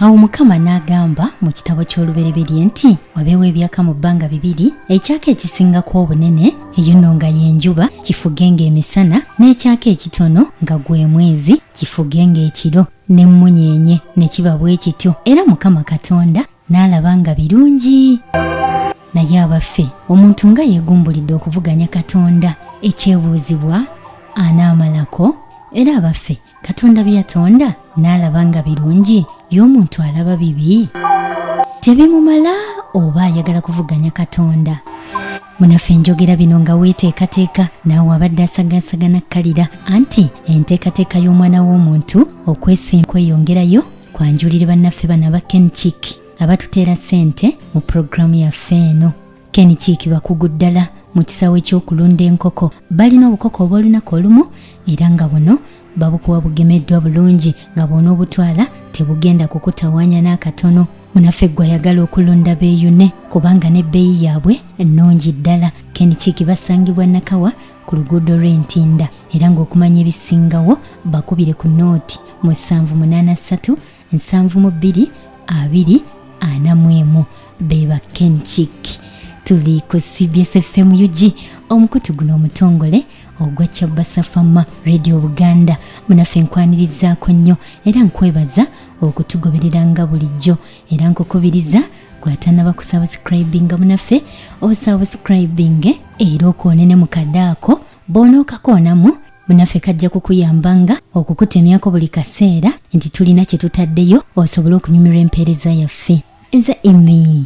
awo mukama n'agamba mu kitabo ky'olubereberye nti wabeewo ebyaka mu bbanga bibiri ekyaka ekisingako obunene eyo nno nga y'enjuba kifuge ng'emisana n'ekyaka ekitono nga gwe mwezi kifuge ng'ekiro n'emmunyeenye ne kiba bwe kityo era mukama katonda n'alaba nga birungi naye abaffe omuntu nga yeegumbulidde okuvuganya katonda ekyebuuzibwa anaamalako era abaffe katonda bye yatonda n'alaba nga birungi y'omuntu alaba bibi tebimumala oba ayagala kuvuganya katonda munaffe njogera bino nga weeteekateeka naawe abadde asagaasagana kkalira anti enteekateeka y'omwana w'omuntu okwesimba kweyongerayo kwanjulire bannaffe bano aba kenchik abatuteera ssente mu pulogulaamu yaffe eno kenchik bakugu ddala mu kisaawe ky'okulunda enkoko balina obukoko obw'olunaku olumu era nga buno babukuwa bugemeddwa bulungi nga bwona obutwala tebugenda kukutawanya n'akatono munaffe gwe ayagala okulonda beeyune kubanga n'ebbeeyi yaabwe ennungi ddala kenikiiki basangibwa nakawa ku luguudo lw'entinda era ng'okumanya ebisingawo bakubire ku nooti musanvu munaana ssatu nsanvu mu bbiri abiri ana mu emu be ba kenchik tuli ku cbs fm ug omukutu guno omutongole ogwa kyabasafama radio buganda munaffe nkwanirizaako nnyo era nkwebaza okutugoberera nga bulijjo era nkukubiriza gwatanaba kusabusikribinga munaffe osabusikribinge era okwonene mu kadaako bw'onookakoonamu munaffe kajja kukuyamba nga okukutemyako buli kaseera nti tulina kye tutaddeyo osobole okunyumirwa empeereza yaffe eza imi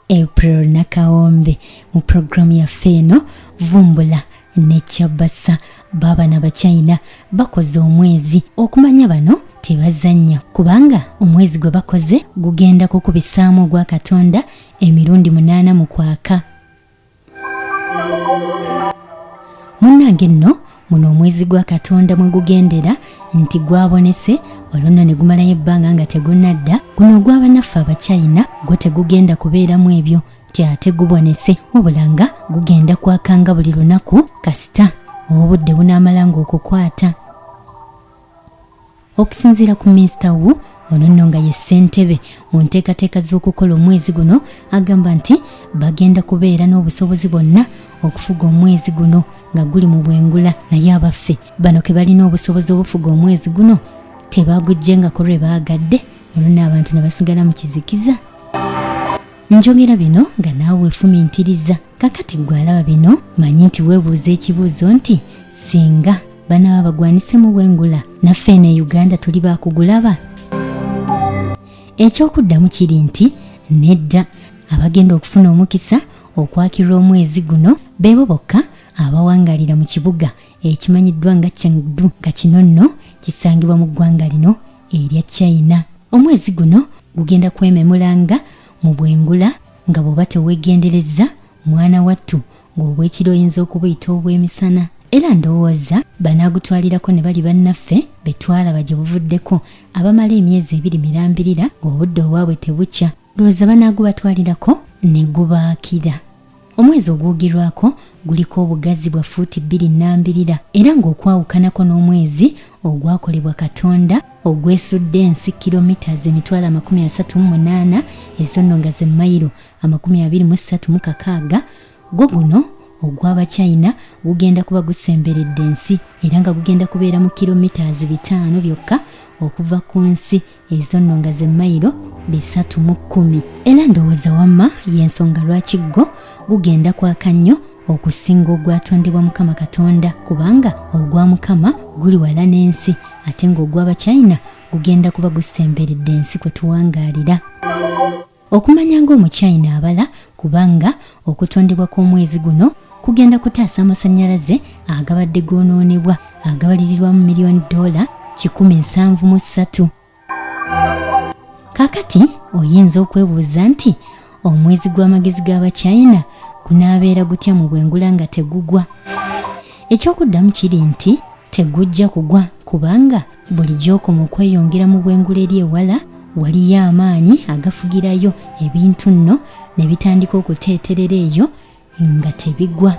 april nakawombe mu puroguramu yaffe eno vumbula nekyabasa baabana bachina bakoze omwezi okumanya bano tebazannya kubanga omwezi gwe bakoze gugenda kukubisaamu ogwa katonda emirundi munaana mu kwaka munnange nno muno omwezi gwa katonda mwe gugendera nti gwabonese olwo nno ne gumalayo ebbanga nga tegunadda guno ogw'abanaffe abachina gwo tegugenda kubeeramu ebyo nti ate gubonese wabula nga gugenda kwakanga buli lunaku kasita obudde bunaamalanga okukwata okusinziira ku minisita wu ono nno nga ye ssentebe mu nteekateeka z'okukola omwezi guno agamba nti bagenda kubeera n'obusobozi bwonna okufuga omwezi guno nga guli mu bwengula naye abaffe bano ke balina obusobozi obufuga omwezi guno tebagujjengako lwe baagadde olwo n'abantu ne basigala mu kizikiza njogera bino nga naawe efumintiriza kakati gwe alaba bino manyi nti weebuuza ekibuuzo nti singa banaba bagwanisemu bwengula naffe eno e uganda tuli bakugulaba ekyokuddamu kiri nti nedda abagenda okufuna omukisa okwakirwa omwezi guno beebo bokka abawangalira mu kibuga ekimanyiddwa nga chengdu nga kino nno kisangibwa mu ggwanga lino erya china omwezi guno gugenda kwememulanga mu bwengula nga bw'oba teweegenderezza mwana wattu ng'obwekiro oyinza okubuyita obw'emisana era ndowooza banaagutwalirako ne bali bannaffe be twalaba gye buvuddeko abamala emyezi ebiri mirambirira ng'obudde obwabwe tebukya ndowooza banaagubatwalirako ne gubaakira omwezi ogwogirwako guliko obugazi bwa fuuti bbiri nnambirira era ng'okwawukanako n'omwezi ogwakolebwa katonda ogwesudde ensi kilomitas emitwalo amakumi asatu mu munaana ezonno nga ze mayiro amakumi abiri mu ssatu mu kakaaga gwo guno ogw'abachina gugenda kuba gusemberedde ensi era nga gugenda kubeera mu kilomitas bitaano byokka okuva ku nsi ezo nno nga ze mayiro bisatu mu kkumi era ndowooza wamma y'ensonga lwaki ggo gugenda kwaka nnyo okusinga ogwatondebwa mukama katonda kubanga ogwa mukama guli wala n'ensi ate ng'ogw'abachina gugenda kuba gusemberedde ensi kwe tuwangaalira okumanya ng'omuchina abala kubanga okutondebwa kw'omwezi guno kugenda kutaasa amasannyalaze agabadde goonoonebwa agabalirirwamu miliyoni doola kikumi nsanvu mu ssatu kakati oyinza okwebuuza nti omwezi gw'amagezi g'abachina gunaabeera gutya mu bwengula nga tegugwa ekyokuddamu kiri nti tegujja kugwa kubanga buli gy'okoma okweyongera mu bwengula eri ewala waliyo amaanyi agafugirayo ebintu nno ne bitandika okuteeterera eyo nga tebigwa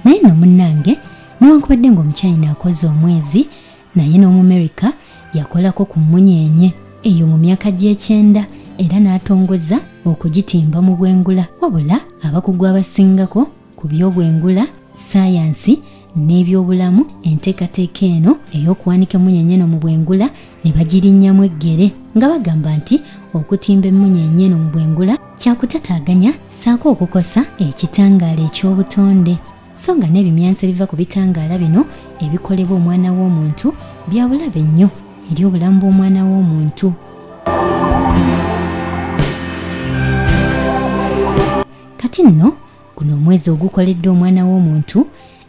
naye nno munnange newankubadde ng'omukyayina akoze omwezi naye n'omumerika yakolako ku mmunyeenye eyo mu myaka gy'ekyenda era n'atongoza okugitimba mu bwengula wabula abakugu abasingako ku by'obwengula sayansi n'ebyobulamu enteekateeka eno ey'okuwanika emmunyeenye eno mu bwengula ne bagirinnyamu eggere nga bagamba nti okutimba emmunyeenye eno mu bwengula kyakutataganya saako okukosa ekitangaala eky'obutonde so nga n'ebimyanso ebiva ku bitangaala bino ebikolebwa omwana w'omuntu bya bulabe nnyo eri obulamu bw'omwana w'omuntu kati nno guno omwezi ogukoleddwa omwana w'omuntu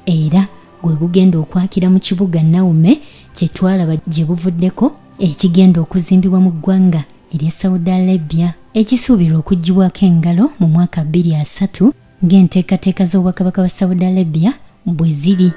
era gwe gugenda okwakira mu kibuga nawume kye twalaba gye buvuddeko ekigenda okuzimbibwa mu ggwanga erya saudi arabia ekisuubirwa okugibwako engalo mu mwaka 23 ng'enteekateeka z'obwakabaka bwa saudi arabia bwe ziri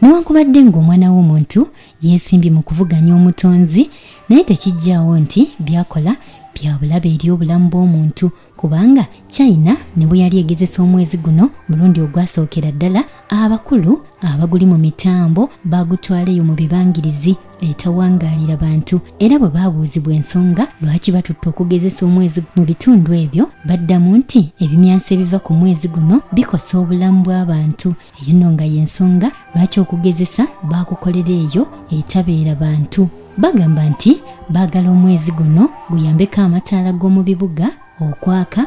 newankubadde ng'omwana w'omuntu yeesimbye mu kuvuganya omutonzi naye tekijjaawo nti byakola bya bulabe eri obulamu bw'omuntu kubanga china ne bwe yali egezesa omwezi guno mulundi ogwasookera ddala abakulu abaguli mu mitambo bagutwaleyo mu bibangirizi etawangaalira bantu era bwe baabuuzibwa ensonga lwaki batutte okugezesa omwezi mu bitundu ebyo baddamu nti ebimyanso ebiva ku mwezi guno bikosa obulamu bw'abantu eyo nno nga y'ensonga lwaki okugezesa baakukolera eyo etabeera bantu bagamba nti baagala omwezi guno guyambeko amataala g'omu bibuga okwaka